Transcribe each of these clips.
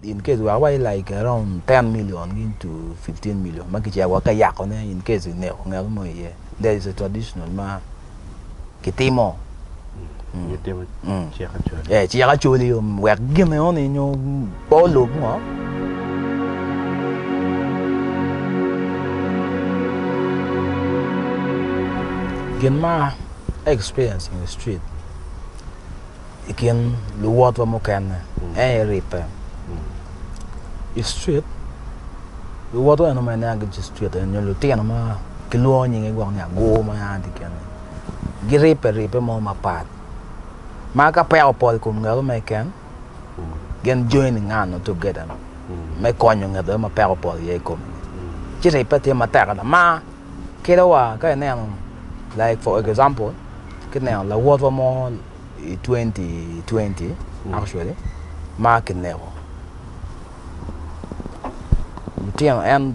in case wek wa like around ten million gin to fifteen million ma kicito wek ka yako ne in case ineko ngat mo iye that is a traditional ma kitimo cik acoli wek gin eno ni nyo pe olub ngo. Gin ma a experience in the street. i kin luwotwa mukene mm. en iribbe mm. i street luwotwa eno ma inengi ci street en nyo lutino ma kilwongo nyinge gwok ni agur ma yan ti kene giribbe ribbe mo mapat ma ka peko pol kom ngabo ma iken mm. gin join ngano together me konyo ngete ma peko pol ye kom ci ribbe tye matek ada ma Kelo wa ka ineno like for example ki neno lawotwa mo i 2020 mm. actually ma kineko lutino en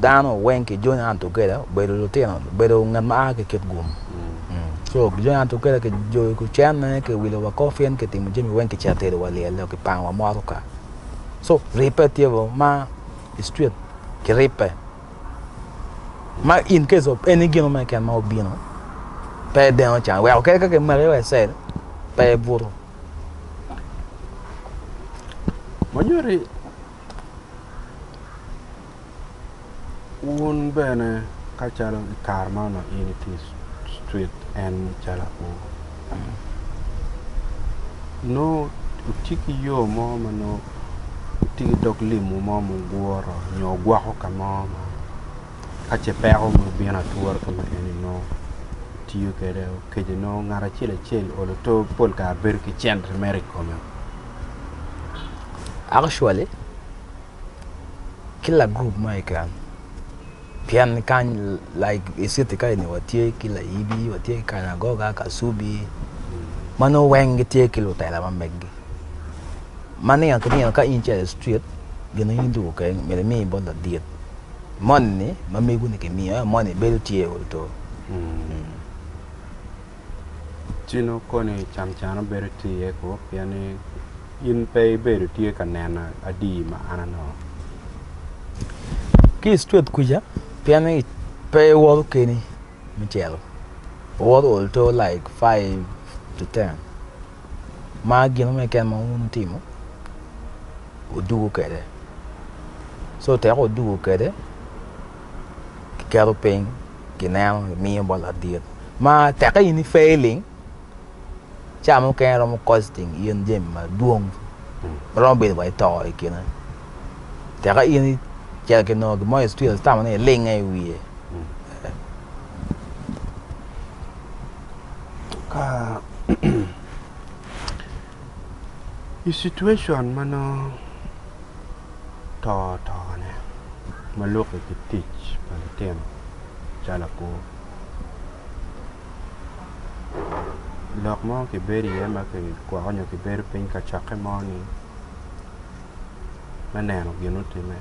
dano weng ki John Hunt Okela obedo lutino obedo ngat ma a ki kit gum mm. mm. so John Hunt Okela ki joyo ki cenne ki wilo wa kofin ki timo jami weng ki cito tedo wa lyel ki pango wa motoka so ribbe tye bo ma i street ki ribbe ma in case of any gino me keken ma obino pe deno can weko kadi ka kimaki wa icel pe ibuto Manyodi wun bene ka calo i kare ma onongo in itye i street en calo akur nongo tye ki yo mo ma nongo itye ki dog lim mo ma guguro nyo gwoko ka mo ma ka ce peko mo obino ature ka ma eni nongo itiyo kwede okece nongo ngat acel acel olo to pol kare bedo ki cente mere i kome actually kila gurup mo keken Pien kany like i city ka eni watye ki Layibi, watye ki Kanyagoga, Kasubi ma nongo weng gitye ki lutela ma meggi. Ma nino ki nino ka in ce i street gin ma in tuku keken myero imi bot ladit moni ma meguni kimiyo ento moni bedo tye o oto. Ci nongo koni can cane bedo tye iye kwo pien ni in pe ibedo tye ka neno adi ma an anongo. Ki i street kuca pien ni pe iwoto keni me cito iwoto ol to like five to ten ma gin mo keken ma wun wutimo wuduku kwede so tek wuduku kwede kiketo piny kineno kimiyo bot ladit ma teke in ifailing. Ca mukene romo kosting in jami madwong ma romo bedo wa ito i kine. Tek ka in icito ki nongo gin mo i cwil itamo ni ilinge i wiye. Ka i cituecon ma nongo to otone ma luki ki tic pa litino calo lapur. lok mo kibedo iye ma kigwoko nyo kibedo piny ka cokke mo ni me neno gin mutime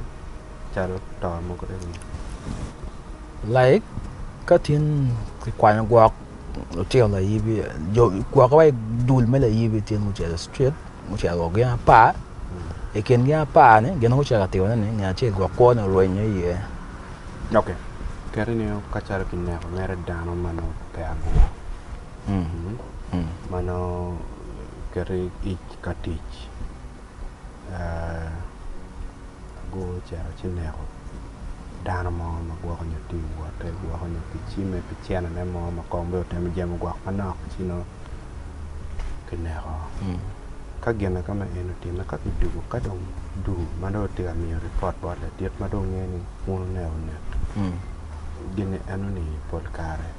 calo to mogo eni laik ka tin kikwanyo gwok lutino layibi jo gwokke wa idul me layibi tin gucito i cit gucito wa gin apar i kin gin apar-ni gin ma gucito ka timone ni nge acel gwok kwone orwenyo iye Ok keri ni ka calo ki neko mere dano ma nongo pe agwok ma nongo keti ic ka tic agwo ocito ci neko dano mo ma gwoko nyo tye iwote gwoko nyo ki cime ki cene ne mo ma kong bene otemo jemo gwok manok ci nongo ki neko Ka gin ka ma en otimme ka kijuko ka dong duu ma dong otye ka miyo ripot bot ladit ma dong ongeyo ni un one onek gin eno ni pol kare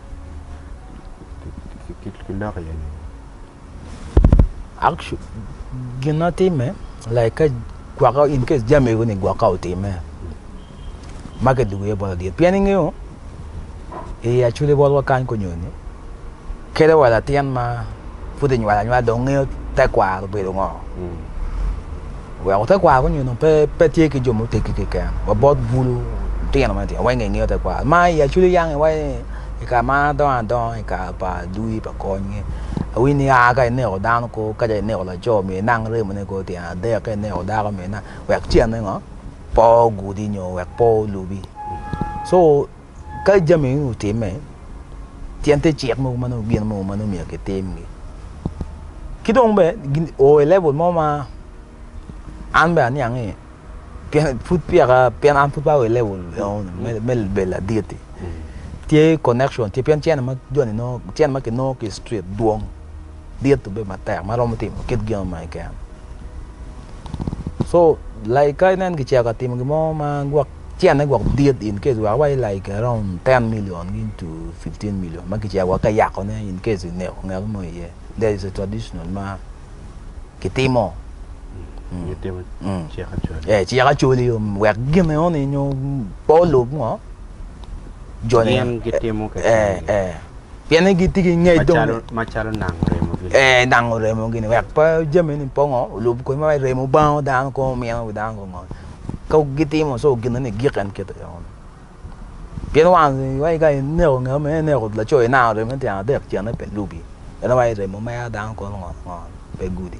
kiloko iye nini? Actually gin ma timme like ka gwok in case jami eni gwok ka otimme ma kidwogo iye bot adier. Pien ingeyo i i acwili botwa kany kunyo ni kede wa latin ma pud inywal anywal dong ngeyo tekwaro obedo ngo. Mm. Weko tekwaro kunyo ni pe pe tye ki jo muteggi keken. Wa bot bulu tino ma tino wenge ngeyo tekwaro. Ma i acwili yang iwa i ka ma adongo adongo i ka pa dui pa kony. Awinyo ni a ka ineko dano ko ka ineko laco mi inang remone ko tyen adek ka ineko dako mi inang wek cene ngo. po ogudi nyo wek po olubi. So ka jami eni otime, tyen te cik mogo ma nongo gin mogo ma nongo myero kitimgi. Ki dong be gin o i level mo ma an be aniang ni pien pud piyaka pien an pud pe ao i level me me bedo ladit-ti. Tye connection tye pien cene ma joni nongo cene ma kinongo ki i street dwong. dit obedo matek ma romo timo kit gin ma keken so like ka inen kicito ka timo gin mo ma gwok cene gwok dit in case wa awaci like around ten million into fifteen million ma kicito wa ka yakone in case ineko ngat mo iye there is a traditional ma kitimo Gitimo Mm. cik acoli. eh cik acoli yo wek gine oni nyo po lub ngo jone Gin gitimo keken. eh eh Pienne gitye ki ngec dong. Macalo nango remo gini. Ee, nango remo gini. Wek pe jami ni pongo, olub kodi ma remo bango dano kong omino wi dano kong ngol. Ka gitimo so gino ni gik en kite yo. Pien wang wai ka ineko ngeo me neko laco inango remo ni tyang adek cene pe lubi. Eno wai remo mea dano kong ngol ngol pe gudi.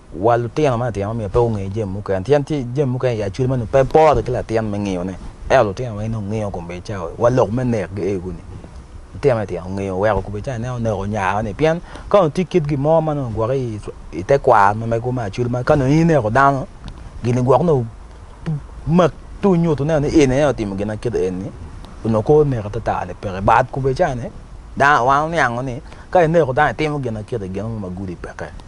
Wa lutino ma titino myero pe gunge jami mukene. Pien tye jami mukene i aculli ma nongo pe pore ki latin me ngeyone. Ento lutino weng nongo ngeyo kombedita wa lok me nek gi egu ni. Lutino ma titino ngeyo weko kombedita ineno oneko nyaro ni pien ka nongo tye kit gin mo ma nongo gwoki i te kwaro ma mego me aculli ma ka nongo in ineko dano gini gwok nongo mak ci onyutu nen ni in aye otimo gin ma kit eni onongo kor nek atata ni peke but kombedita ni dano wan oniango ni ka ineko dano itimo gin ma kit eni gin mo ma gudi peke.